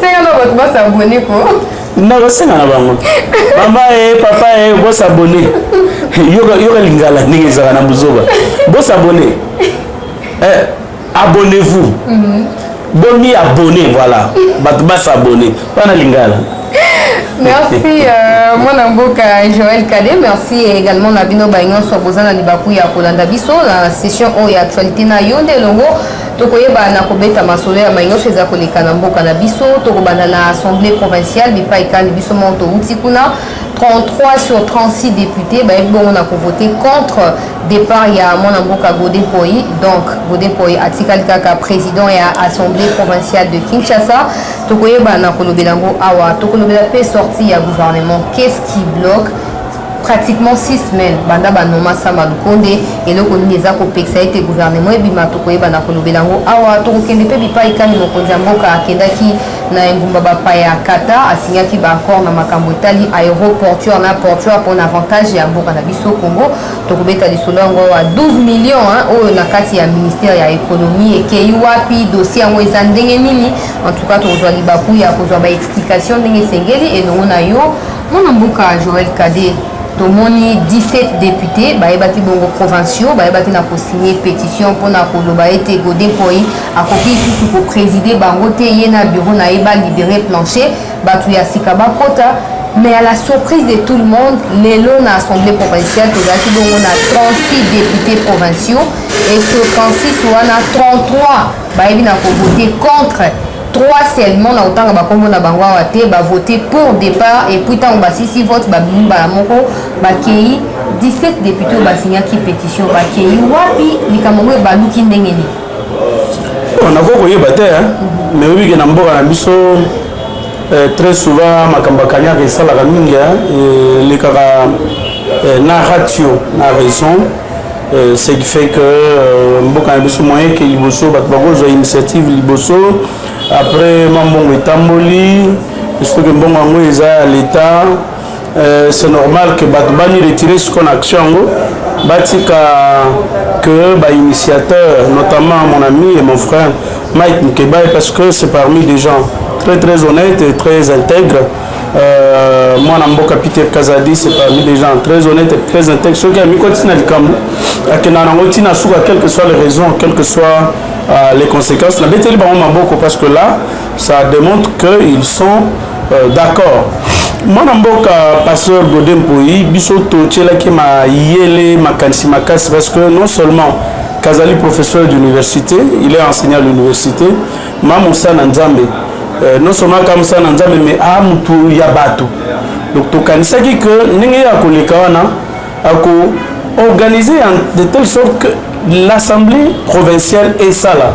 senga na bato basabone ko nakosenga na bango mama e papa e bosabone yoka lingala ndenge ezalaka na buzoba bosabone eh, abonnez-vous mm -hmm. bomi abonne voilà bato basabone wana lingala merci euh, mwana mboka joel kade merci également na bino baye nyonso boza na libaku ya kolanda biso na session oyo ya actualité na yo nde elongo tokoyeba na kobeta masolo ya mai nyonso eza koleka na mboka na biso tokobanda na assemblée provinciale bipai kani biso moko touti kuna 33 sur 36 députés bayebi bongo na kovote contre départ ya mwana mboka gode poi donc gode poi atikali kaka président ya assemblée provinciale de kinshasa tokoyeba na kolobela yango awa tokolobela mpe sortie ya gouvernement qu'est-ce qui bloque pratiquement 6 semaines banda banoma sama lukonde eloko nini eza kopekisa ete gouvernement ebima tokoyeba na kolobela yango awa tokokende mpe bipai kani mokonzi ya mboka akendaki na engumba bapaya kata asinyaki baaccord na makambo etali aéroportuaire na portuaire mpo na avantage ya mboka na biso congo tokobeta lisolo yango awa 12 million oyo na kati ya ministère ya économie ekei wapi dossier yango eza ndenge nini en tout cas tokozwa libaku ya kozwa baexplication ndenge esengeli elongo na yo mwana mboka joel cade tomoni 17 depute bayebaki bongo provinciaux bayebaki na kosigne pétition mpona koloba ete gode poi akoki lisusu kopreside bango te ye na bureau na ye balibere plancher bato ya sika bakota mais à la surprise de tout le monde lelo na assemblée provinciale tozalaki bongo na 36 députés provinciaux et sur 36 wana 33 bayebi na kovote contre 3 seulement na kotanga bakombo na bango awa te bavote pour départ et puis ntango basisi vote babimi mbala moko bakei 17 députés oyo basignaki pétition bakei wapi likambo yango ebaluki ndenge nini Oh, nakoki koyeba te nayebi ke na mboka na biso eh, très souvent makambo ya kanyaka esalaka mingi elekaka eh, na ratio na raison eh, ce qui fait que mboka na biso moyen ke liboso bato bakozwa initiative liboso après mwa mbongo etamboli soki mbongo yango eza ya leta Euh, c'est normal que bato bani retire siko na action yango batika que bainitiateur notamment mon ami et mon frère mike mkebaye parce que c'est parmi des gens très très honnête et très intègre euh, mwana mboka peter kazadi c'est parmi des gens très honnête et très intègre soki amikoti na likambo akenda nango ntina suka quelle que soit les raisons quelle que soit euh, les conséquences nabeteli bango maboko parce que là ça démontre qu'ils sont Euh, d'accord mwana mboka pasteur gode mpoi biso totyelaki mayele makanisi makasi parce que non seulement kazali professeur d'université il est enseignant à l'université ma mosala na nzambe euh, non seulement aka mosala na nzambe mais a ah, motu ya bato donc tokanisaki que ndenge ye akoleka wana ako organiser de telle sorte que l'assemblée provinciale esala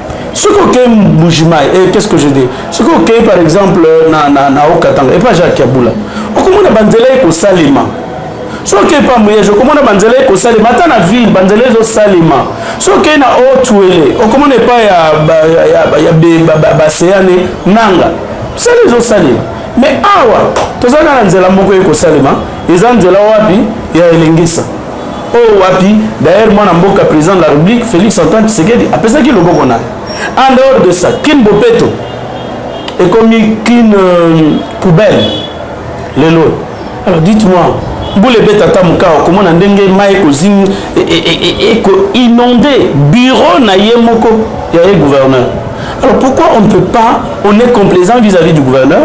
soki okei mbujimai eh, qu'est ce que je dis soki okei par exemple na, na, na okatanga epa jacques yabula okomona banzela ekosalema soki okei pa muyege okomona banzela ekosalema ata na ville banzela ezosalema soki okei na otuele okomona epa ya, ya, ya, ya, ya baseane nanga sala ezosalema mais awa tozalaka na nzela moko ekosalema eza nzela wapi ya elengisa oyo oh, wapi d'ailleurs mwana mboka président de la république félix antoine tshisekedi apesaki loboko na en dehors de ça kin bopeto ekomi kin euh, poubelle lelo alors dites-moi mbula ebeta ata mokao komona ndenge mai ekozini e, e, e, ekoinonde bureau na ye moko ya ye gouverneur alors pourquoi on ne peut pas on est complaisant vis-à-vis -vis du gouverneur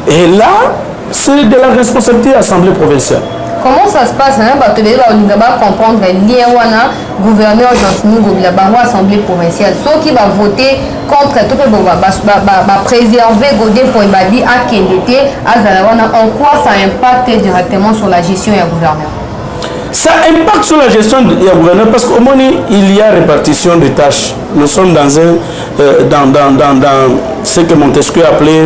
et là C'est de la responsabilité ya assemblée provinciale. Comment ça se passe hein? bato ebele balinga bacomprendre lien wana gouverneur gentini ngobila bango assemblée provinciale soki bavote contre to mpe bapréserve godin mpo ebabi akende te azala wana en quoi ça impacte directement sur la gestion ya gouverneur ça impacte sur la gestion ya gouverneur parce que omoni il y a répartition de tâches nous sommes dans un euh, dans, dans, dans, dans ce que montesquieu appelait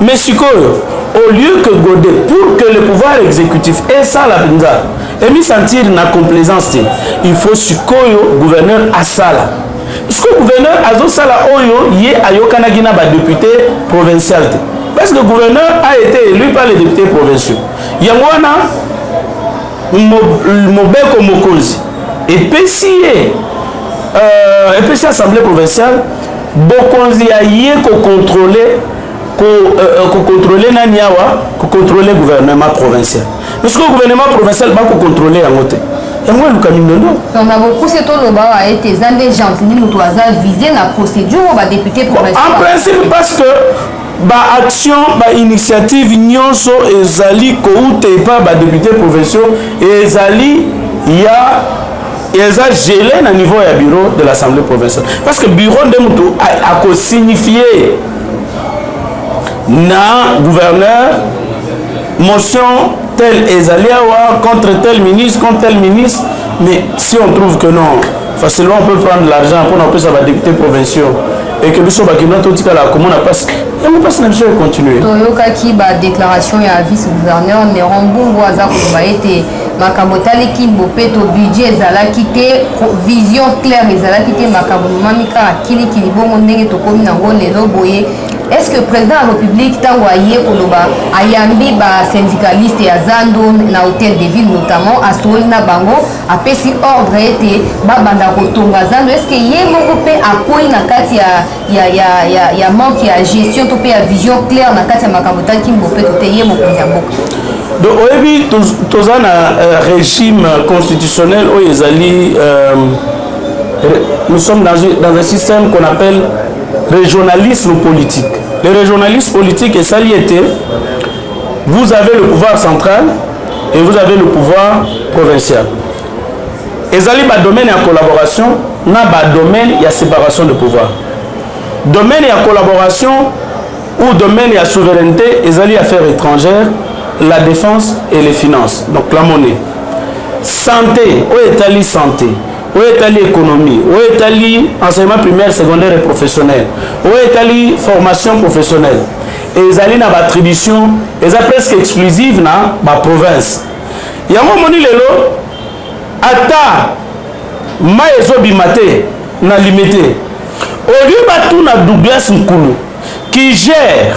mais sikoyo au lieu que gode pour que le pouvoir exécutif esala mpenza emisentir na complaisance te il faut sikoyo gouverneur asala siko gouverneur azosala oyo ye ayokanaki na badepute provincial te parce que gouverneur a été élu par les députés provinciaux yango wana mobeko mokonzi epesi ye euh, epesi assemblée provinciale bokonzi ya ye kocontrole ko, uh, kocontrole nani awa kocontrole gouvernement provincial mais sikoyo gouvernement provincial bakocontrole yango te yango eluka mindondo donc na bokuse toloba awa ete eza nde gentini moto aza vise na procédure oyo badepute en principe parce que Ba actions, ba initiatives nyonso ezali kouta epa ba deputes provinciaux ezali ya eza gelé na niveau ya bureau de l'assemblée provinciale parce que bureau nde motu akosignifie na gouverneur Motion tel ezali awa contre tel ministre contre tel ministre mais si on trouve que non facilement on peut prendre l'argent pona kopesa ba députés provinciaux et que biso bakinois totikala komona mpasi yango mpasi na biso econtinue toyokaki badéclaration ya vice gouverneur neron mbungu aza koloba ete makambo etali kimbo mpe to budget ezalaki te vision claire ezalaki te makambo momami kaka kilikili bongo ndenge tokomi nango lelo boye est-ce que président ya république ntango aye koloba ayambi basyndicaliste ya zando na hôtel de ville notamment asololi na bango apesi ordre ete babanda kotonga zando est-ce que ye moko mpe akwei na kati ya, ya, ya, ya, ya manque ya gestion to mpe ya vision claire na kati ya makambo etaki mbopeto te ye mokonzi ya mboka donc oyebi toza na euh, régime constitutionnel oyo ezali euh, nous sommes dans, dans un système qu'on appelle Regionalisme politique. Le regionalisme politique est saliété. Vous avez le pouvoir central et vous avez le pouvoir provincial. ezali badomaine ya collaboration na badomaine ya séparation de pouvoir domaine ya collaboration ou domaine ya souveraineté ezali affaires étrangères la défense et les finances donc la monnaie santé oyo etali santé oyo etali économie oyo etali enseignement primaire secondaire et professionnel oyo etali formation professionnelle ezali na baattribution eza presque exclusive na baprovince yango omoni lelo ata mai ezobima te na limite au lieu batuna douglas nkulu qui gère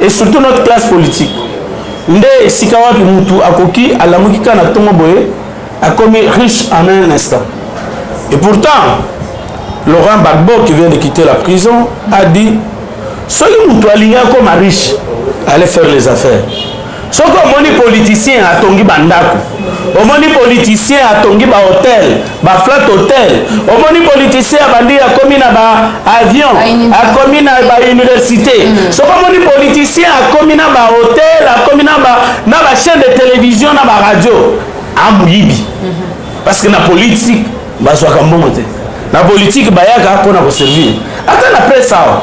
et surtout notre classe politique nde esika wapi mutu akoki alamuki kaka na tongo boye akomi riche en un instant et pourtant Laurent Gbagbo qui vient de quitter la prison a dit soki mutu alingi akoma riche allez faire les affaires soki omoni politicien atongi bandako omoni politicien atongi bahotel baflat hotel omoni politicien abandi akomi na baavion akomi na bauniversité mm. soki omoni politicien akomi na bahotel akomi na bachaine de télévision na baradio amoyibi mm-hmm. parce que na politique bazwaka mbongo te na politike bayaka mpo na koservir ata na presse awa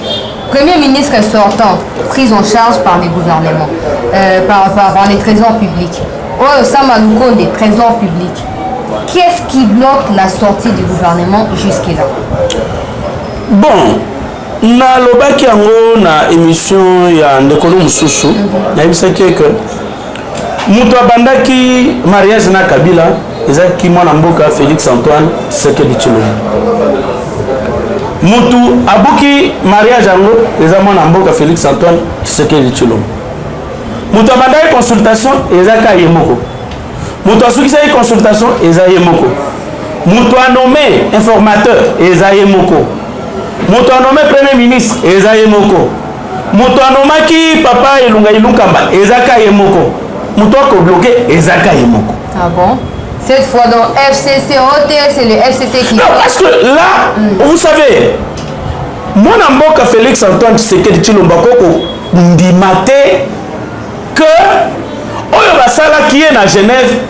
Premier ministre sortant, prise en charge par les gouvernements, euh, par, par, par les trésors publics. Oyo Sama Lukonde, des trésors publics. Qu'est-ce qui bloque la sortie du gouvernement jusque-là Bon, nalobaki yango na émission ya ndeko no mosusu nayebisaki eke moto abandaki mariage na kabila ezalaki mwana mboka félix antoine sekedi tshilombo motu abuki mariage yango eza mwana mboka félix antoine tshisekedi tshilombo moto abandaki consultation eza ka ye moko moto asukisaki consultation eza ye moko moto anome informateur eza ye moko moto anome premier ministre eza ye moko moto anomaki papa elunga ilunkamba eza ka ye moko moto akobloke eza ka ye moko ah bon? Cette fois, dans FCC, OT, c'est le FCC qui... Non, parce que là, mm. vous savez, mon amboka Félix Antoine Tshisekedi Tshilomba Koko ndima te que oyo basalaki ye na Genève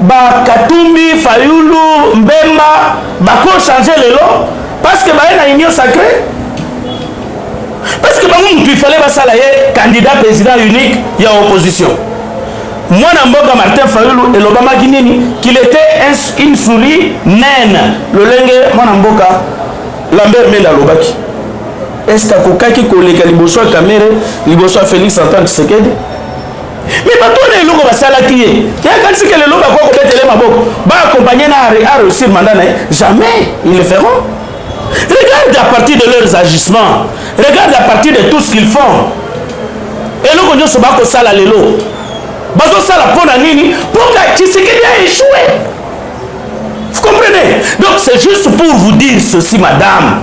ba katumbi fayulu mbemba bako change lelo parce que baye na union sacrée parce que bango mutu ifale basala ye candidat président unique ya opposition mwana mboka martin fayulu elobamaki nini qu'il était une souris naine lolenge mwana mboka lambert mende alobaki est ce que akokaki koleka liboso ya kamere liboso ya félix antoine tshisekedi mais bato wana eloko basalaki ye te akanisi ke lelo bakoki kobetele maboko baakompagne na a réussir manda na ye jamais ils le feront regarde à partir de leurs agissements regarde à partir de tout ce qu'ils font eloko nyonso bakosala lelo bazosala mpo na nini mpo ka tshisekedi a échoué vous comprenez donc c'est juste pour vous dire ceci madame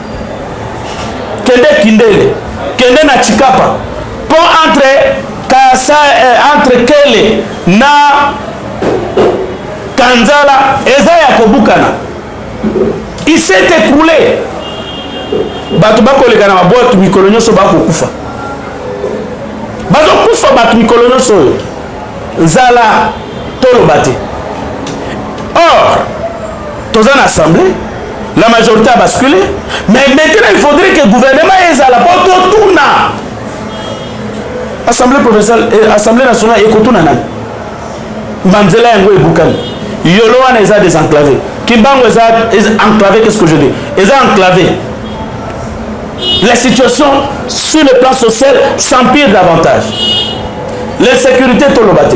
kende kindele kende na chikapa po entre kasa eh, entre kele na kanzala eza ya kobukana il s'est écroulé bato bakoleka na babwatu mikolo nyonso bakokufa bazokufa bato mikolo nyonso oyo nzala toloba te or toza na assemblée la majorité a bascule mais maintenant il faudrait que gouvernement ezala po totuna assemblée provinciale eh, assemblée nationale ekotuna nani banzela yango ebukani yolo wana eza désenclavé kimbango eza enclavé qu'est ce que je dis eza enclavé la situation sur le plan social s'empire davantage l'insécurité toloba te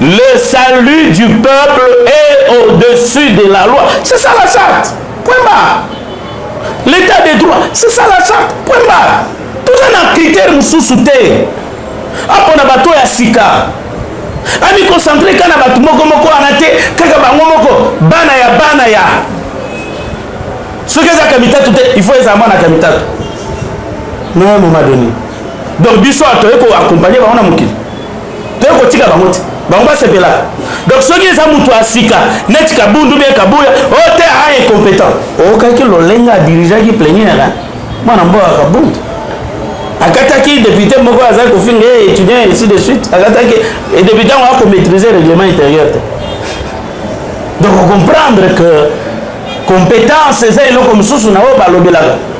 Le salut du peuple est au-dessus de la loi. C'est ça la charte. Point barre. L'état des droits, c'est ça la charte. Point barre. Tout un critère mosusu te. Apo na bato ya sika. Ami concentré kana bato moko moko wana te, kaka bango moko bana ya bana ya. Soki eza kamitatu te, il faut eza mwana kamitatu. Na un moment donné. Donc biso atoyeko accompagner bango na mokili. toyei kotika bango te bango basepelaka donc soki eza moto ya sika neti kabundu bie kabuya o oh, te a ah, incompétent okaki lolenga adirigeaki pleniere mwana mboka kabundu akataki député moko azali kofinga ye eh, étudiant ainsi de suite akataki eh, député yango akomaîtrise règlement intérieur te donc okomprendre que compétence eza eloko mosusu na oyo balobelaka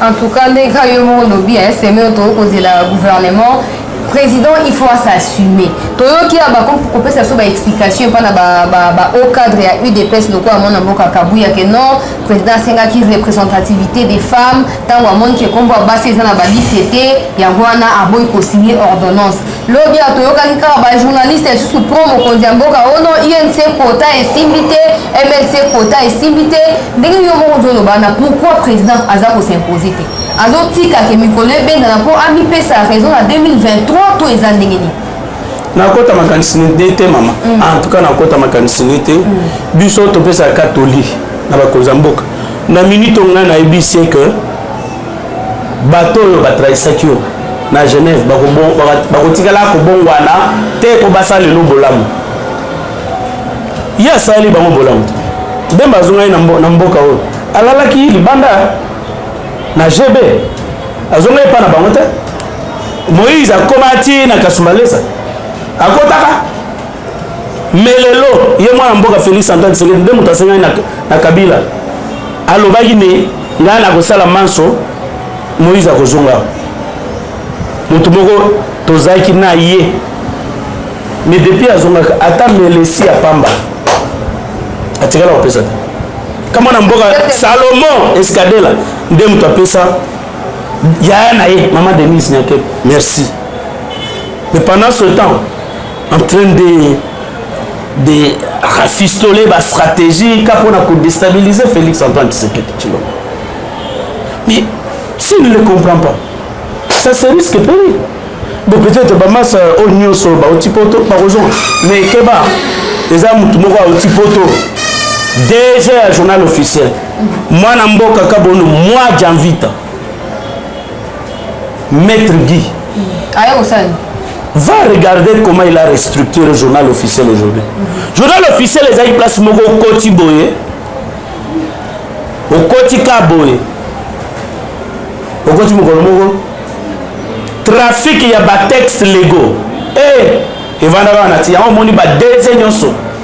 En tout cas, ndenge kaka yo moko lobi, hein, c'est mieux tokoki kozela gouvernement président il faut s'assumer toyoki ya bakopesa biso baexplication epai na bahaut cadre ya udps lokola mwana mboka kabuya ke non président asengaki représentativité des femmes ntango amoniki ekombo ya basi eza na baliste te yango wana aboyi kosigne ordonnance lobi ya toyokaki kaka bajournaliste lisusu pro mokonzi ya mboka ono inc kota esimbi te mlc kota esimbi te ndenge yo moko ozoloba na pourquoi président aza kosimpose te azotika ke mikolo ebendana mpo amipesa raison na 2023 to eza ndenge nini nakota makanisi nde te mama mm. en tout cas nakota makanisi nde te mm. biso topesaka katoli na bakonzi ya mboka na minute ongai nayebisi ke bato oyo batrahisaki yo na genève bakotikala kobongwana te mpo basala lelo bolamu ye asaleli bango bolamu te bemba azongaki na mboka oyo alalaki libanda na gb azongaki epa na bango te moïse akomati na kasumalesa akotaka mais lelo ye mwana mboka Felix Antoine Tshisekedi nde moto asengaki na, na Kabila alobaki ne ngai nakosala manso Moïse akozonga moto moko tozalaki na ye mais depuis azongaka ata melesi ya pamba atikala kopesa te kama na mboka salomon escadela nde moto apesa yaya na ye mama denise nyake merci mais pendant ce temps en train de de rafistole ba stratégie ka mpona kodestabilise félix antoine tshisekedi tshilombo mais s'il ne le comprend pas ça se risque pour lui bon peut-être bamasa euh, oyo nyonso bauti poto bakozonga mais keba eza motu moko auti poto dg ya journal officiel mwana mboka kabono mwa janvita Maître Guy. Ayo kosala va regarder comment il a restructuré le journal officiel aujourd'hui mm-hmm. journal officiel ezali place moko okoti boye okoti ka boye okoti mokolo moko trafic ya batexte lego e eh, evandaka wana ti yango omoni badeze nyonso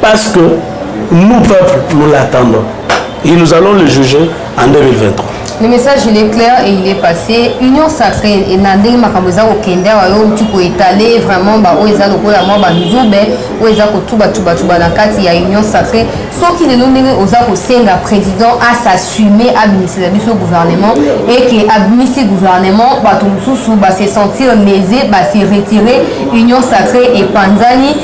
Parce que nous, peuple, nous l'attendons. Et nous allons le juger en 2023. Le message il est clair et il est passé. Union sacrée et na ndenge makambo eza kokende awa yo outi koetale vraiment baoyo eza lokola mwa banzube oyo eza kotubatubatuba na kati ya union sacrée soki lelo ndenge oza kosenga président asassume abimisela biso gouvernement et ke abimisi gouvernement bato mosusu base sentir lese base retire union sacrée epanzani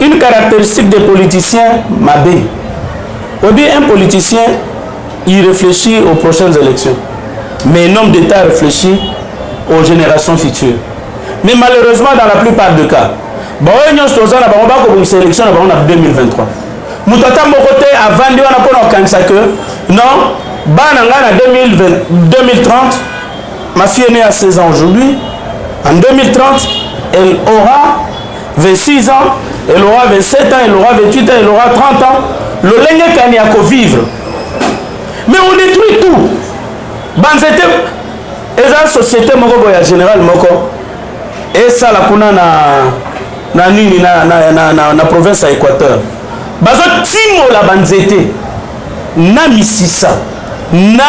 Une caractéristique des politiciens mabe. Oyebi un politicien il réfléchit aux prochaines élections. Mais un homme d'État réfléchit aux générations futures. Mais malheureusement dans la plupart des cas, baoyo nyonso toza na bango bakobongisa élection na bango na 2023. Moto ata moko te avandi wana mpo na kokanisa que non bana ngai na 2030 ma fille est née à 16 ans aujourd'hui en 2030 elle aura 26 ans, elle aura 27 ans, elle aura 28 ans, elle aura 30 ans. Lolenge kani ya vivre. Mais on détruit tout. Banzete eza société moko boye ya général moko esala kuna na na nini na, na, na, na, na province ya Équateur. Bazo timola banzete. na misisa, na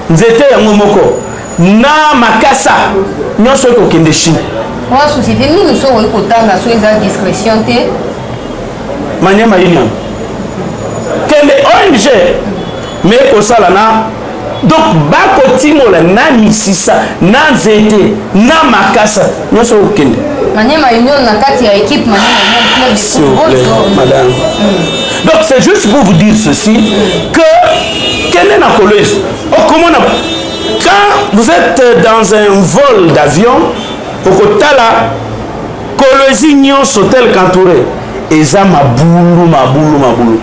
nzete yango moko, na makasa nyonso ekokende Chine. Mwa société nini soki okoki kotanga soki eza discrétion te? Maniema Union. Kende ONG mais ekosala na donc bakotimola na misisa na nzete na makasa nyonso okende maniema union na kati ya équipe madame hmm. donc c'est juste pour vous dire ceci que kende na kolezi okomona quand vous êtes dans un vol d'avion okotala kolezi nyonso tel qu'entouré eza mabulu mabulu mabulu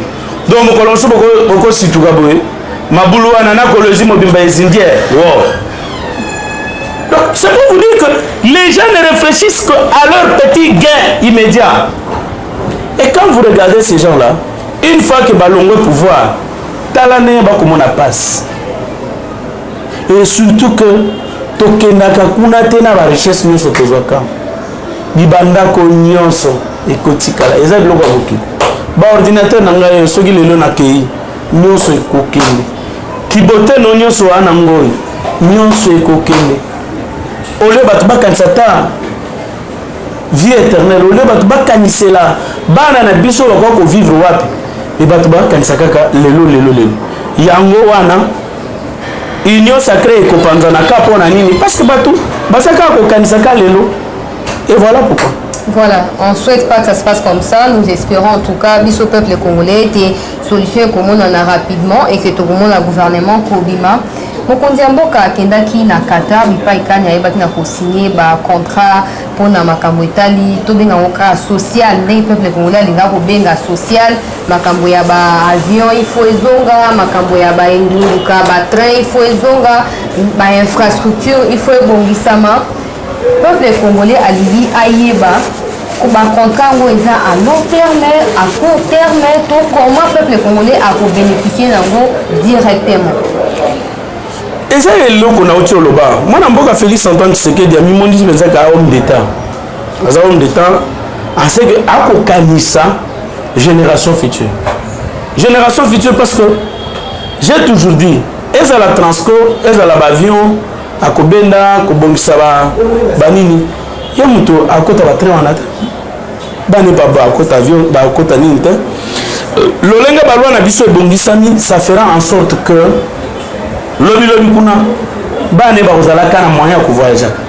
donc mokolo mosusu bokosituka boye mabulu wana na kolozi mobimba ezindie wow. donc c'est pour vous dire que les gens ne réfléchissent que à leur petit gain immédiat et quand vous regardez ces gens là une fois que balongwe pouvoir tala ndenge bakomona passe et surtout que tokendaka kuna te na barichesse nyonso tozwaka bibandako nyonso ekotikala eza biloko ya mokili baordinateur na ngai oyo soki lelo nakei nyonso ekokende kiboteno nyonso wana ngoi nyonso ekokende olio bato bakanisa ta vie éternelle olio bato bakanisela bana na biso bakoki kovivre wapi e bato bakanisaka kaka lelo lelo lelo yango wana union sacrée ekopanzana ka mpo na nini parce que bato baza kaka kokanisa ka lelo et voilà pourquoi Voilà, on ne souhaite pas que ça se passe comme ça. Nous espérons en tout cas, bis au peuple congolais, des solutions comme on en a rapidement et que tout le monde a gouvernement Kobima. mokonzi ya mboka akendaki na qatar bipai kani ayebaki na kosigne bacontrat mpo na makambo etali tobenga yango kaka social ndenge peuple congolais alingaka kobenga social makambo ya ba avion il faut ezonga makambo ya ba engunduka ba train il faut ezonga ba infrastructure il faut ebongisama peuple congolais alingi ayeba bacontra yango eza à long terme à court terme to comment peuple congolais akobénéficie yango directement eza eloko nauti oloba mwana mboka félix antoine tshisekedi amimondisi mpenza ka homme d'état aza homme d'état ase que akokanisa génération future génération future parce que j'ai toujours dit ezala transco ezala baavion akobenda kobongisa banini ye moto akota batrain wana te bani bakota avion bakota nini te euh, lolenge balwa na biso ebongisami ça fera en sorte que lobilobi kuna bana bakozalaka na moyen ya kovoyageaka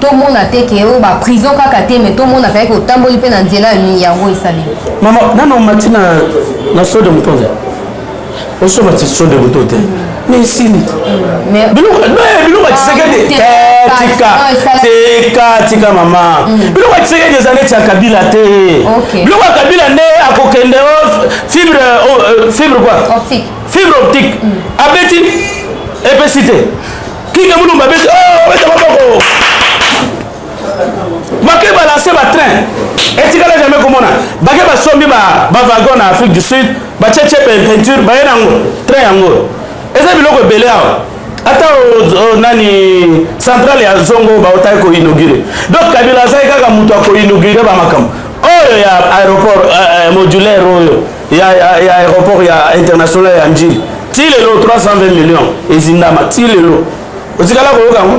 tomona te ke oyo ba prison kaka te mais tomona kaka ke otamboli mpe na nzela yango esali mama nano omati na na sode moto te osomati sode moto te mais esili biloko atisaka te tika tika tika mama biloko atisaka te eza neti ya kabila te biloko ya kabila nde akokende fibre fibre quoi fibre optique abeti epesi te Kinga Mulumba beta oh beta maboko. Bake balancer ba train. Etikala jamais komona. Bake basombi ba ba wagon na Afrique du Sud, ba cheche peinture, ba yena ngo train yango. Eza biloko ebele awa. Ata o, o, nani centrale ya Zongo ba otaki ko inaugurer. Donc Kabila azali kaka moto ako inaugurer ba makambo. Oyo ya aéroport euh, euh, modulaire oyo ya, ya, ya aéroport ya international ya njili ti lelo 320 millions ezindama ti lelo otikala koyoka yango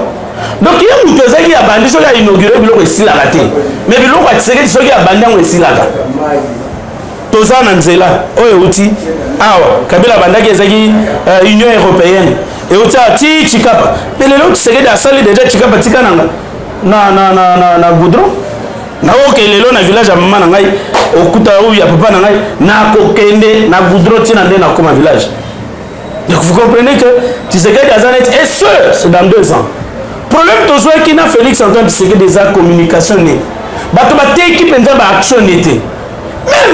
donc ye moto ezalaki ya bandi soki ya inaugure biloko esilaka te mais biloko ya tisekedi soki ya bandi yango esilaka toza na nzela oyo euti awa kabila abandaki ezalaki uh, union européenne euti awa ti chikapa mais lelo tisekedi asali deja chikapa tika nanga na, na, na, na, na goudron naoke lelo na village ya mama na ngai okuta oyo ya papa na ngai nakokende na goudron ntina nde nakoma village donc vous comprenez que tisekedi aza neti et ce c'est dans deux ans problème tozwaki na félix antoine tisekedi eza communication ne bato bateki mpenza baaction ne te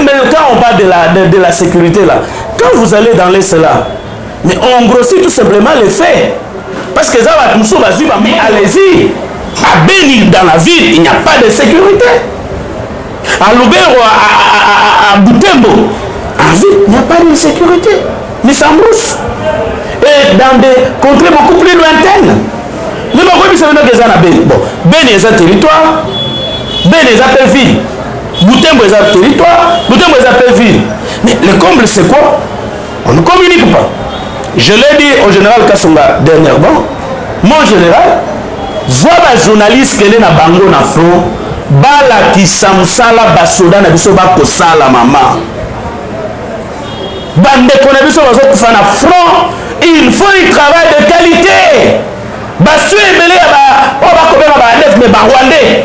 même quand on parle de la, de, de la sécurité là quand vous allez dans l'est là mais on grossit tout simplement le fait parce que eza bato mosusu bazwi bami allez-y à beni dans la ville il n'y a pas de sécurité à lubero à butembo en ville il n'y a pas de sécurité mais ça mousse et dans des contrées beaucoup plus lointaines nde bakoyebisa bino ke eza na beni bon beni eza territoire beni eza mpe ville butembo eza territoire butembo eza mpe ville mais le comble c'est quoi On ne communique pas. Je l'ai dit au général Kasonga dernièrement, mon général, zwa ba journaliste kende na bango na front balakisa mosala basoda na biso bakosala mama bandeko na biso bazokufa na front il faut du travail de qualité basio ebele ya oyo bakobenga baandef me barwandais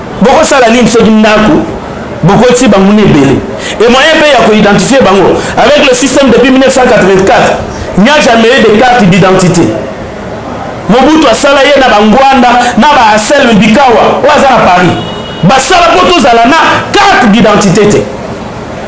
bokosala nini soki ndako bokoti banguna ebele e moyen mpe ya koidentifie bango avec le système depuis 1984 n'y a jamais eu de carte d'identité mobutu asala ye na bangwanda na baaselme bikawa oyo aza na paris basala mpo tozala na carte d'identité te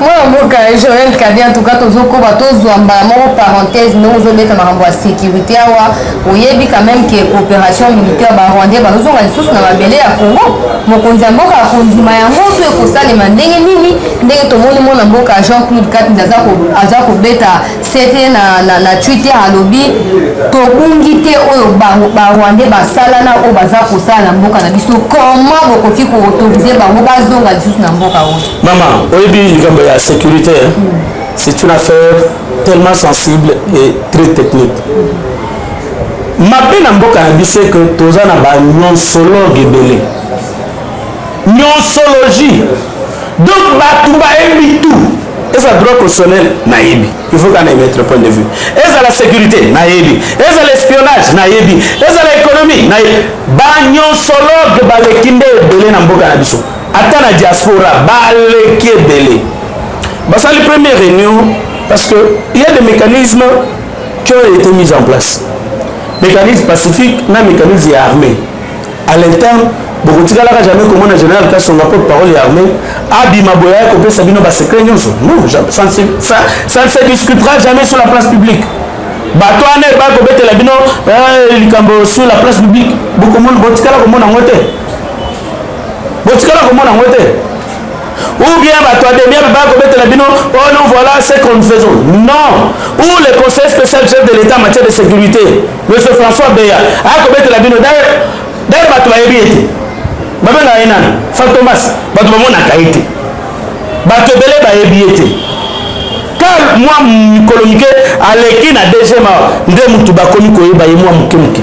mwana mboka joel kabi en tout cas tozokoba tozwa mbala moko parenthèse ndenge ozobeta makambo ya sécurité awa oyebi quand même ke coopération militaire barwandais bazozonga lisusu na mabele ya congo mokonzi ya mboka akondima yango to ekosalema ndenge nini ndenge tomoni mwana mboka jean claude katnd aza kobeta sete na, na, na twitter alobi tobungi te oyo barwandais basala na oyo baza kosala na mboka na biso comment bokoki koautorize bango bazonga lisusu na mboka oyo Maman, oyebi likambo ya sécurité, hein? c'est une affaire tellement sensible et très technique. mabe na mboka na biso eke toza na banyonsologe ebele nyonsologie donc bato bayebi tout eza droit constitutionnel nayebi il faut kana emettre point de vue ezala sécurité nayebi ezala espionnage nayebi ezala économie nayebi banyonsologe baleki nde ebele na mboka na biso ata na diaspora baleki ebele basali première réunion parce que il y a des mécanismes qui ont été mis en place mécanisme pacifique na mécanisme ya armée à l'interne bokotikalaka jamais komona général kasonga porte parole ya armée abima boye aya kopesa bino basecret nyonso non ça ne se discutera jamais sur la place publique bato wana ebaya kobetela bino eh, likambo sur la place publique botikala komona yango te botikala komona yango te ou bien bato ya demia baya kobetela bino oh non voilà ce que nous faisons non ou le conseil spécial chef de l'état en matière de sécurité monsieur françois beya aya kobetela bino dare bato bayebi ye te babengaka ye nani fantomas bato bamonaka ye te bato ebele bayebi ye te kar mwa mikolo mike aleki na dgma nde motu bakomi koyeba ye mwa moke moke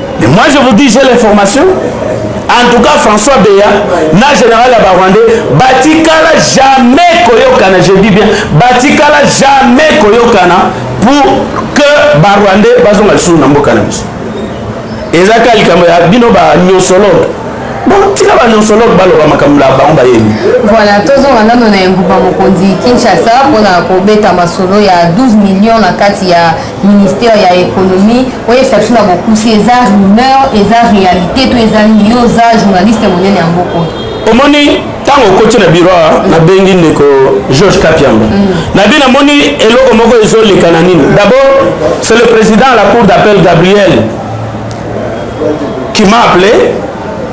Mais moi je vous dis j'ai l'information en tout cas françois beya na général ya barwandais batikala jamais koyokana je dis bien batikala jamais koyokana pour que barwandais bazonga lisusu na mboka na biso eza kaka likambo ya bino banyosologe tika banyosologe baloba makambo na bango bayebi voilà tozonga nano na engumba mokonzi kinshasa mpona kobeta masolo ya 12 million na kati ya ministère ya économie oyebisa biso na bokusi eza rumeur eza réalité to eza nini yo oza journaliste monene ya mboka oyo omoni ntango okoti na biro nabengi ndeko george kapiamba mm. nabi namoni eloko moko ezoleka na nini d'abord c'est le président à la cour d'appel gabriel qui m'a appelé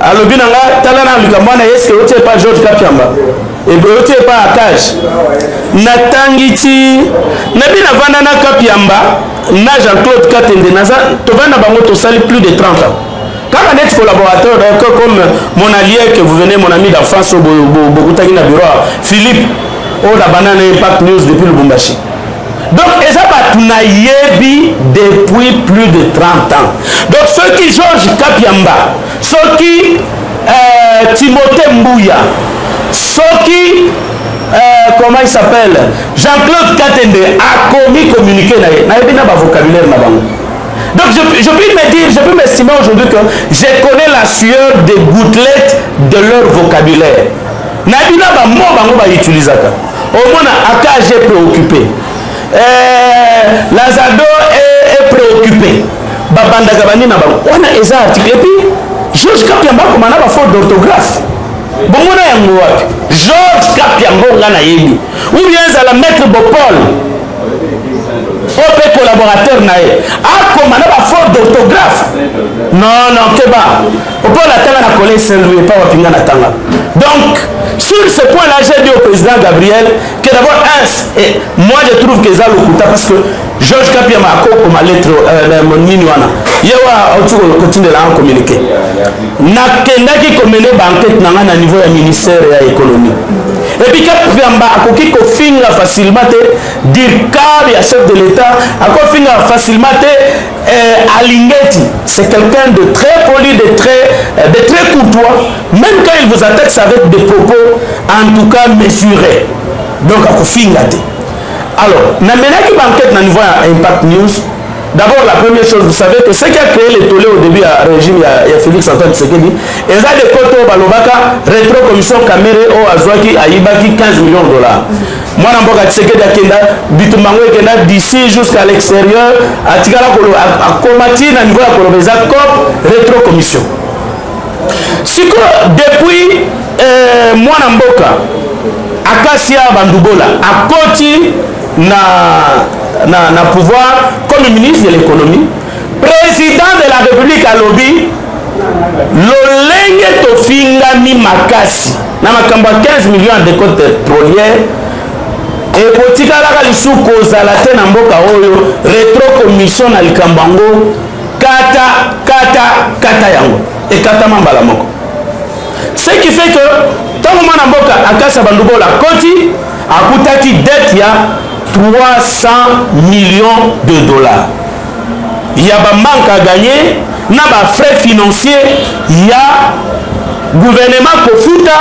alobi na nga tala na likambo wana eske oti epa george kapiamba ebele ti epa akage natangi ti nabi navanda na kapiamba na jean claude katende naza tovanda na bango tosali plus de 30 ans kaka neti collaborateur d'accord comme mon allié que vous venez mon ami d'enfance oyo bokutaki na bureau philippe oyo nabanda na impact news depuis lubumbashi donc eza bato nayebi depuis plus de 30 ans donc soki george kapiamba soki euh, timothée mbuya soki euh, comment il s'appelle jean-claude katende akomi communiqué na ye nayebi na bavocabulaire na bango donc je, je puis me dire je puis m'estimer aujourd'hui que je connais la sueur des gouttelettes de leur vocabulaire nayebi na bamo bango bautilisaka omona akage préoccupé euh, lazado est, est préoccupé babandaka bande na bango wana eza article epi george kapiamba akoma na bafaute d'orthographe bomona yango wapi george kapiambo nga nayebi ubien ezala maître bopol oyo mpe collaborateur na ye akoma na bafaute d'orthographe non non keba opona atanga na collège saint louis epa wapi nga natanga donc sur ce point là j'ai dit au président gabriel que d'abord un moi je trouve que eza lokuta parce que George Kapiama akokoma lettre euh, nini wana ye wana auti kotindela nga communiqué nakendaki komene bankete na ngai na niveau ya ministère ya économie epuis kapiamba akoki kofinga facilement te dircab ya chef de l'état akofinga facilement te euh, alingeti c'est quelqu'un de très poli de très, euh, de très courtois même quand il vous attaque avec des propos en tout cas mesurés donc akofinga te Alors, na menaki banquete na niveau ya Impact News. D'abord, la première chose, vous savez que ce qui a créé le tollé au début ya régime ya, ya Félix Antoine Tshisekedi, eza de koto balobaka retro commission Kamere oyo azwaki ayibaki 15 millions de dollars. mwana mboka Tshisekedi akenda bitumba yango ekenda d'ici jusqu'à l'extérieur, atikala akoma ti na niveau ya koloba eza cop retro commission. sikoyo depuis euh, mwana mboka akasia bandubola akoti na, na, na pouvoir comme ministre de l'économie président de la république alobi lolenge tofingami makasi na makambo ya 15 million ya decote pétrolière ekotikalaka lisusu kozala te na mboka oyo retro commission na likambo yango kata kata kata yango ekatama mbala moko ce qui fait que ntango mwana mboka akasa bandubola akoti akutaki dette ya 300 millions de dollars ya bamanque à gagner na bafrais financier ya gouvernement kofuta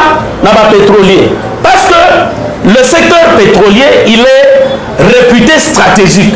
na bapétrolier parce que le secteur pétrolier il est réputé stratégique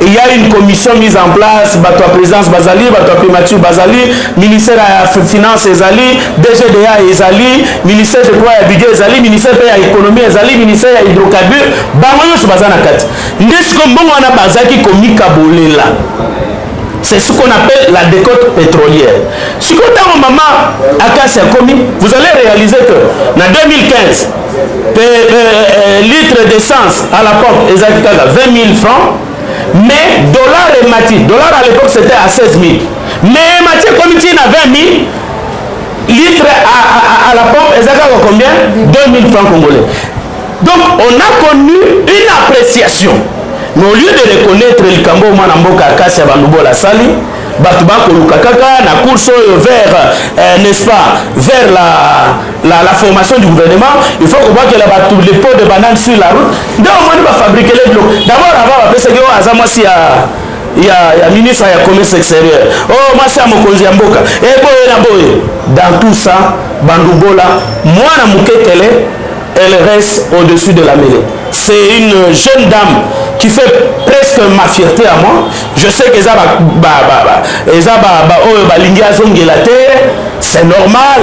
Il y a une commission mise en place, bato ya présidence bazali, bato ya primature bazali, ministère ya finance ezali, DGDA ezali, ministère de quoi ya budget ezali, ministère pe ya économie ezali, ministère ya hydrocarbure, bango nyonso baza na kati. Nde siko mbongo wana bazaki komikabolela. C'est ce qu'on appelle la décote pétrolière. Siko ntango mama Akasi akomi, vous allez réaliser que na 2015 Pe, euh, euh, litre d'essence à la pompe ezalaki kaka 20 000 francs mais dollar emati dollar à l'époque c'était à 16 000 mais emati ekomi ntina 20 000 litre à, à, à la pompe eza kaka combien 2 000 francs congolais donc on a connu une appréciation mais au lieu de reconnaître likambo mwana mboka kasi ya bandubola asali bato bakoluka kaka na course oyo vers euh, n'est-ce pas vers la la, la formation du gouvernement il faut kobwakela bato le pot de banane sur la route nde omoni bafabrikele biloko d'abord avant bapesaki oyo aza mwasi ya ya, ya ministre ya commerce extérieur oyo oh, mwasi ya mokonzi ya mboka eboye eh, na boye dans tout ça bandubola mwana moketele elle reste au-dessus de la mêlée c'est une jeune dame qui fait presque ma fierté à moi je sais que eza ba, ba, ba, ba, eza ba, ba, oyo balingi azongela te c'est normal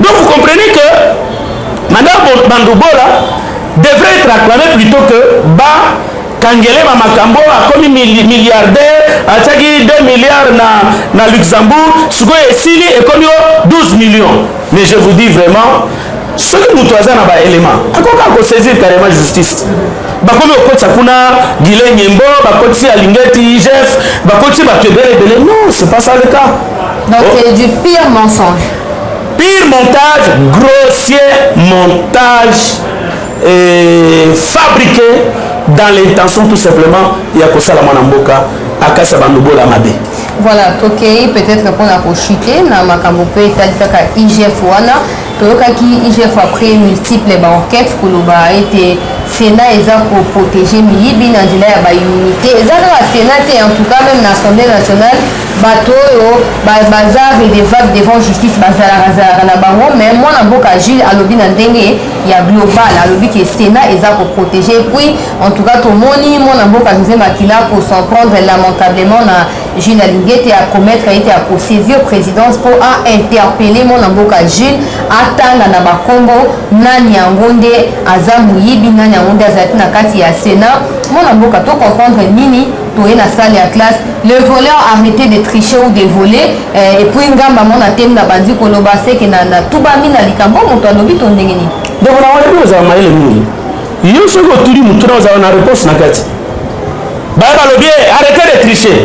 Donc vous comprenez que Madame Bandoubola devrait être acclamée plutôt que ba kangele ma makambo akomi milliardaire atiaki 2 milliards na, na luxembourg sikoyo esili ekomi o 12 millions mais je vous dis vraiment soki moto aza na baélément akoka kosaisir carrément justice bakomi kokotisa kuna gile nyembo bakotisi alingeti igf bakotisi bato ebele ebele non c'est pas ça le cas donc oh. du pire mensonge Pire montage, grossier montage euh, fabriqué dans l'intention tout simplement ya kosala mwana mboka akasa bandobola mabe voilà tokei peut-être mpona kochute na makambo mpe etali kaka igf wana toyokaki igf après multiple baenquête koloba ete sénat eza koprotege miyibi na nzela ya baunité eza kaka sénat te en tout cas même na assemblée nationale bato oyo baza redevable devant justice bazalaka zalaka na bango mais mwana mboka agile alobi na ndenge ya global alobi ke sénat eza koprotege puis en tout cas tomoni mwana mboka josé makila kosan prendre lamentablement na jules alingete acommettre ete akosaisir présidence mpo ainterpelle mwana mboka jules atanga na bakombo nani yango nde aza moyibi nani yango nde azalaki na kati ya sénat mwana mboka tocomprendre nini toye na salle ya classe le voleur arrete de tricher ou de voler eh, epuis ngamba mo na temi na bandi koloba seke na tubami na likambo moto alobi to ndenge nini donc na wana ozala mayele mingi yo soki otuli motu na ozala na réponse na kati baye balobi eh, arrete de tricher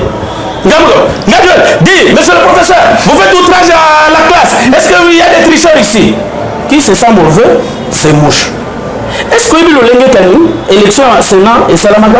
ngambo ngambo di monsieur le professeur vous faites outrage à la classe est-ce que il y a des tricheurs ici qui se sent mauvais c'est mouche est-ce que oyebi lolenge kani élection ya sénat esalamaka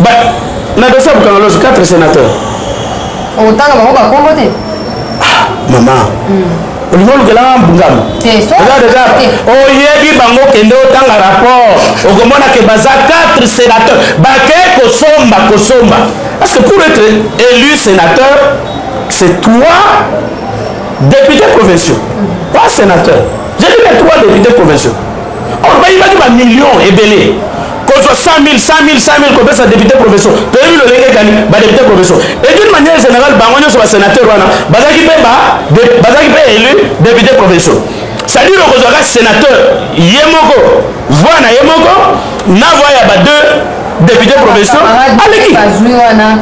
ba na dosi ya bokangalosi 4 sénateur okotanga bango bakongo te ah, mama hmm. olingi olukelanga mbungamo oyebi bango kende otanga rapport okomona ke baza 4 sénateur bake kosomba kosomba parce que pour être élu sénateur c'est trois députés provinciaux hmm. pas sénateur j'ai dit les trois députés provinciaux or bayibaki ba million ebele kozwa 100000 100000 100000 kopesa depute professeur toyebi lolenge ekani ba depute professeur et d'une manière générale bango nyonso ba sénateur wana bazalaki mpe ba bazalaki mpe élu depute professeur c'est-à-dire okozwaka sénateur ye moko voix na ye moko na voix ya ba deux depute professeur aleki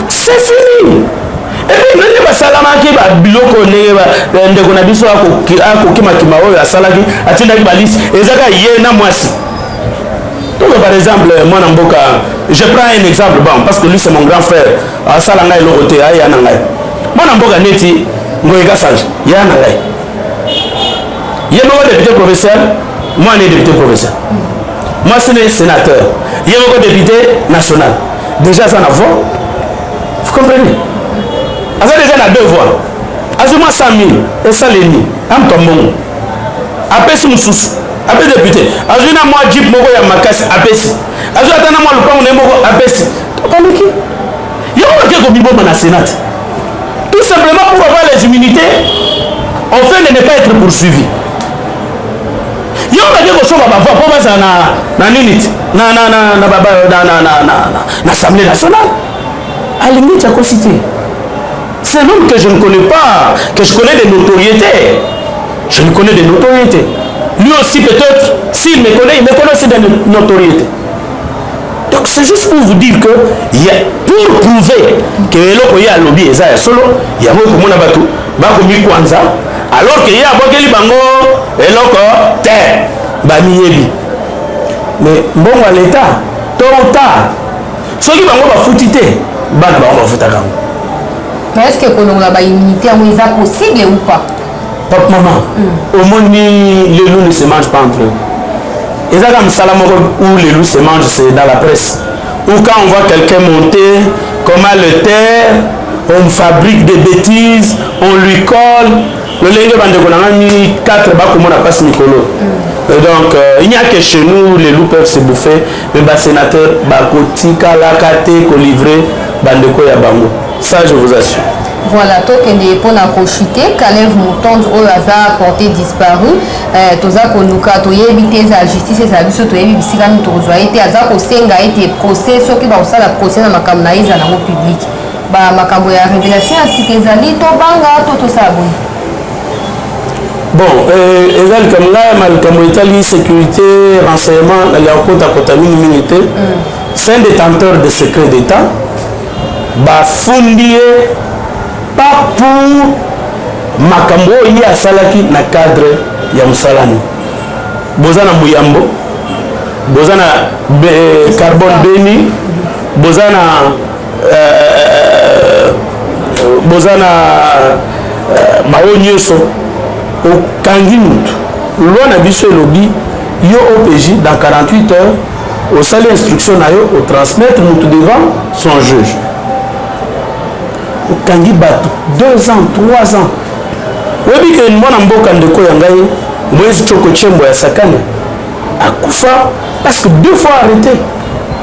c'est fini epi ndenge basalamaki babiloko ndenge eh, ndeko na biso akokimakima oyo asalaki atindaki balisi eza kaka ye na mwasi donc par exemple mwana mboka je prends un exemple bon parce que lui c'est mon grand frère asala ngai eloko te aya na ngai mwana mboka neti ngoye kasanje ya na ngai ye moko député provincial mwana ye député provincial mwasi ne sénateur ye moko député national déjà aza na voix vous comprenez aza deja na deux voix azwi mwa 100 mille esaleli na moto ya mbongo apesi mosusu apesi depute azwi na mwa jip moko ya makasi apesi azwi ata na mwa lopango na ye moko apesi tokaniki yango bake komiboma na senate tout simplement pour avoir les immunités on fait de ne pas être poursuivi yo bake kosomba bavoi mpo bazala na nini na assemblée nationale alingi jakosi te c'est l'homme que je ne connais pas que je connais des notoriétés je ne connais des notoriétés lui aussi peut-être s'il me connaît il me connaît aussi des notoriétés donc c'est juste pour vous dire que y a, pour prouver que eloko ye alobi eza ya solo yango ekomona bato bakomikwanza alors que ye abwakeli bango eloko te bamiyebi mais mbongo ya leta to ta soki bango bafuti te bana bango bafutaka yango mais est ce que kolongola ba immunité yango eza possible ou pas papa maman mm. omoni le loup ne se mange pas entre eux eza kaka mosala moko où le loup se mange c'est dans la presse ou quand on voit quelqu'un monter comment le terre on fabrique des bêtises on lui colle lolenge bandeko na ngani 4 bakomona mpasi mikolo mm. donc euh, il n'y a que chez nous les loups peuvent se bouffer mpe ba sénateur bakotikalaka te kolivre bandeko ya bango ça je vous assure voilà tokende mpo na kochute kalev motonde oyo aza porte disparu eh, toza koluka toyebi te eza justice ezala biso toyebi bisika nini tokozwa ye te aza kosenga ete procès soki bakosala procès na makambo na ye ezala yango publike bamakambo ya révélation ya sika ezali tobanga to tosala boye bon eh, eza likambo ngai ma likambo etali sécurité renseignement naliaka kotakota mingimingi te c'est un détenteur de secret d'état bafundi ye pas pour makambo oyo ye asalaki na cadre ya mosala ni boza na moyambo boza na eh, carbone beni boza na euh, boza na euh, mawo nyonso okangi motu loi na biso elobi yo opj dans 48 heures osali instruction na yo otransmettre motu devant son juge okangi bato 2 ans 3 ans oyebi ke mwana mboka ndeko ya ngai moise coko chembo ya sakane akufa parce que deux fois arrêté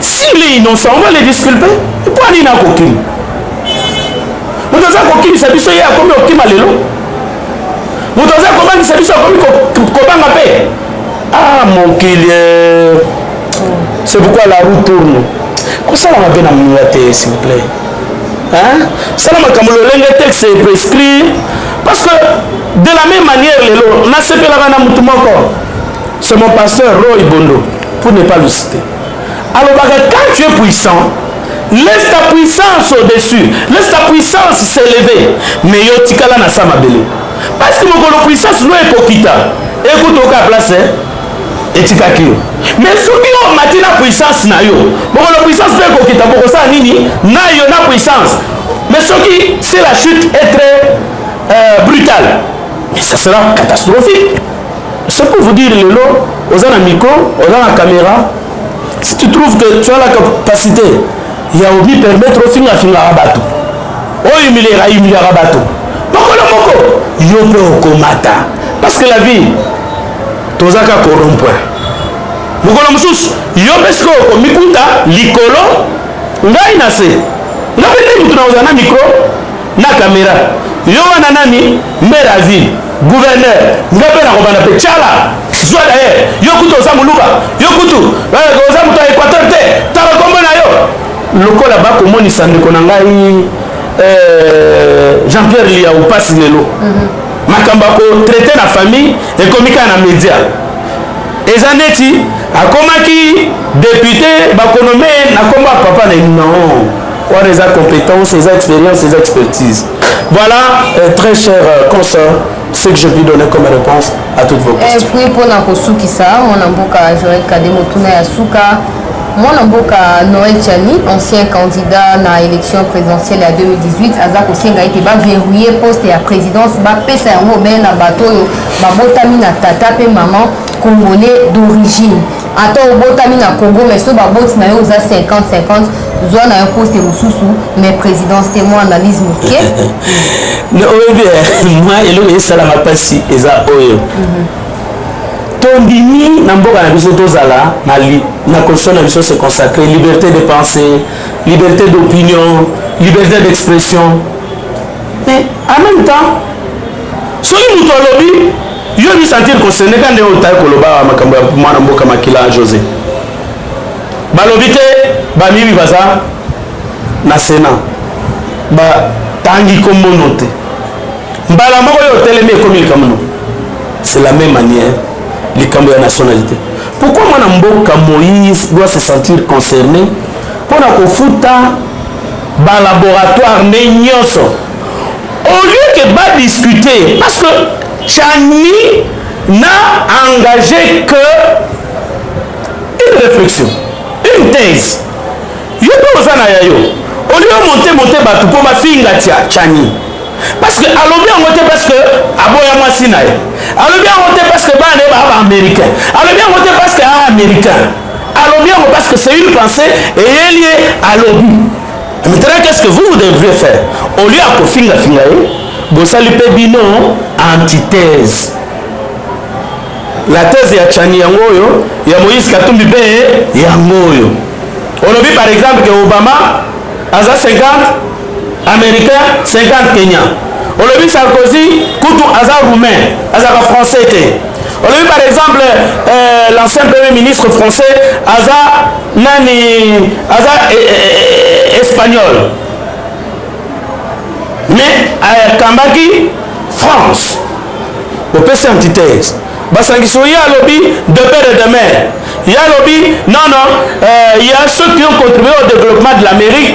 S'il est innocent, on va le disculper. Mpo nini akokima? Moto aza kokimisa biso ye akomi kokima lelo. Moto aza kobangisa biso akomi kobanga mpe. Ah mon killer. C'est pourquoi la roue tourne. Kosala mabe na moninga te s'il vous plaît. Hein? Sala makambo lolenge texte prescrit parce que de la même manière lelo nasepelaka na motu moko c'est mon pasteur roy bondo pour ne pas le citer alobaka quand tu es puissant laisse ta puissance au-dessus laisse ta puissance s'élever mais yo tikala na sa mabele parce que mokolo puissance no ekokita ekotoka place hein? etikaki yo mais soki yo omati na puissance na yo mokolo puissance mpe ekokita bokosala nini na yo na puissance mais soki si la chute est très euh, brutale mais ça sera catastrophique C'est pour vous dire lelo oza na micro, oza na caméra, si tu trouves que tu as la capacité ya omi permettre ofinga fingaka bato oyo humiliaka humiliaka bato mokolo moko yo mpe okomata parce que la vie tozaka corrompre mokolo mosusu yo mpe sikoyo okomikuta likolo ngai na se ngai mpe nde motu na kozala na mikro na kamera yo wana nani mere azili gouverneur nga mpe nakobanda mpe cala zwa daye yo kutu oza moluba yo kutu eh, oza moto ya équateur te tala nkombo na yo lokola bakomonisa ndeko na ngai eh, jean pierre liya opasi lelo mhm. makambo ya kotraite na famille ekomi kaka na média eza neti akomaki depute bakonome na nkombo ya papa na non wana eza compétence eza expérience eza expertise voilà euh, très cher euh, consort ce que je puis donner comme réponse à toutes vos questions puis mpona kosukisa mwana mboka joel kade motuna ya suka mwana mboka noel chani ancien candidat na élection présidentielle ya 2018 aza kosenga ete baverrouille poste ya présidence bapesa yango obele na bato oyo babotami na tata mpe maman congolais d'origine ata obotami na congo mais so baboti na yo oza 50 50 zwa na yo poste mosusu mais présidence te mwa analyse moke oyebi eh, mwa eloko esalaka mpasi eza oyo mhm. tondimi na mboka na biso tozala na constitution na biso se consacre liberté de pensée liberté d'opinion liberté d'expression mais en même temps soki moto alobi yo mi sentir concerné ka ndenge otai koloba makambo ya mwana mboka makila josé balobi te bamibi baza na sénat batangi kombono te mbala moko yo otelemi ekomi likambo no c'est la même manière likambo ya nationalité pourquoi mwana mboka moïse doit se sentir concerné mpo na kofuta ba laboratoire nde nyoso au lieu que ba discuter parce que chani na engage que une réflexion une thèse yo mpe oza na ya yo au lieu monte monte bato mpo bafinga chani parce que alobi yango te parce que aboya mwasi na ye alobi yango te parce que bana ye baa ba américain alobi yango te parce que aa américain alobi yango parce que c'est une pensée eyeli ye alobi maintenant qu'est ce que vous vous devrez faire au lieu ya kofingafinga ye bosali mpe bino antithèse la thèse ya chani yango oyo ya moïse katumbi mpe yango oyo olobi par exemple ke obama aza 50 Americain 50 Kenya. Olobi Sarkozy kutu aza roumain, azaka français te. Olobi par exemple euh, l'ancien premier ministre français aza nani aza eh, eh, eh, espagnol. Mais akambaki euh, France. Opesi antithèse. basangisi ye alobi de père et de mère ye alobi non non euh, ya ceux qui ont contribué au développement de l'amérique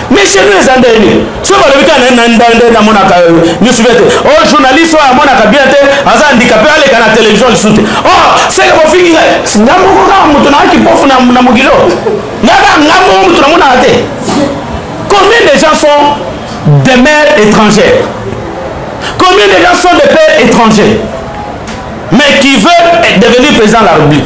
mais chez nous eza ndenge nini soki balobi kaka na ndande namonaka nyonso bien te o journaliste oyo amonaka bien te aza handikape aleka na télévision lisusu te o oh, seke bofingi ngai nga moko kaka moto naka kipofu na mokilo nga kaka nga moko moto namonaka te combien de gens sont des mères étrangères combien de gens sont des pères étrangers mais qui veut devenir président de la république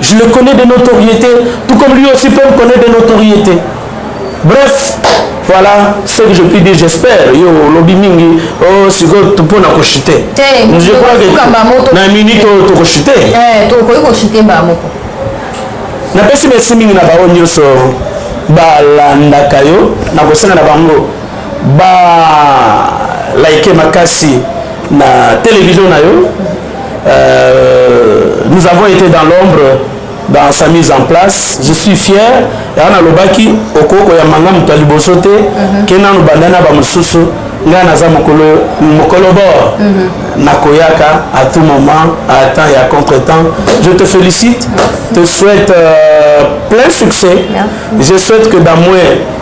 Je le connais de notoriété, tout comme lui aussi peut me connaître de notoriété. Bref, voilà ce que je puis dire j'espère yo olobi mingi oh, sikoyo mpona koshite je crois que na minute oyo tokoshite napesi merci mingi na baoyo nyonso balandaka yo nakosenga na bango ba like makasi na televizio na yo Euh, nous avons été dans l'ombre dans sa mise en place je suis fier yango nalobaki okoki koyamba nga moto ya liboso te mhm. ke nanu banda na bamosusu ngai naza mokolo mokolo bor mhm. nakoyaka à tout moment à temps et à contre temps je te félicite te souhaite euh, plein succès je souhaite que dans moins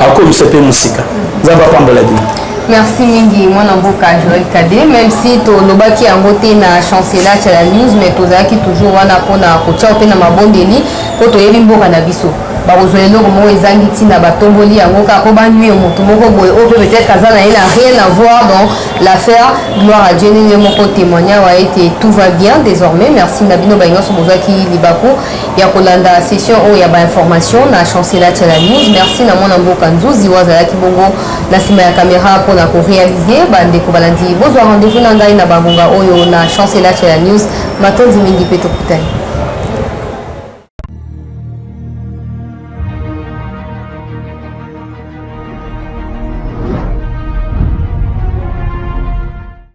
akomisa mpe mosika nzambe apambola bino merci mingi mwana mboka joel kade même si tolobaki yango te na chancela chala news mais tozalaki toujours wana mpona kotia mpe na mabondeli mpo toyebi mboka na biso bakozwa eloko moko ezangi ntina batomboli yango kaka mpo banui moto moko boye oyo mpe peut-être aza na ye na rien à voir dans l'affaire gloire à dieu nini ye moko témoigna wa ete tout va bien désormais merci na bino baye nyonso bozwaki libaku ya kolanda session oyo ya bainformation na chancela tela news merci na mwana mboka nzuzi oyo azalaki bongo na nsima ya kamera mpo na korealize bandeko balandi bozwa rendez-vous na ngai na bangonga oyo na chancela tela news matondi mingi mpe tokutani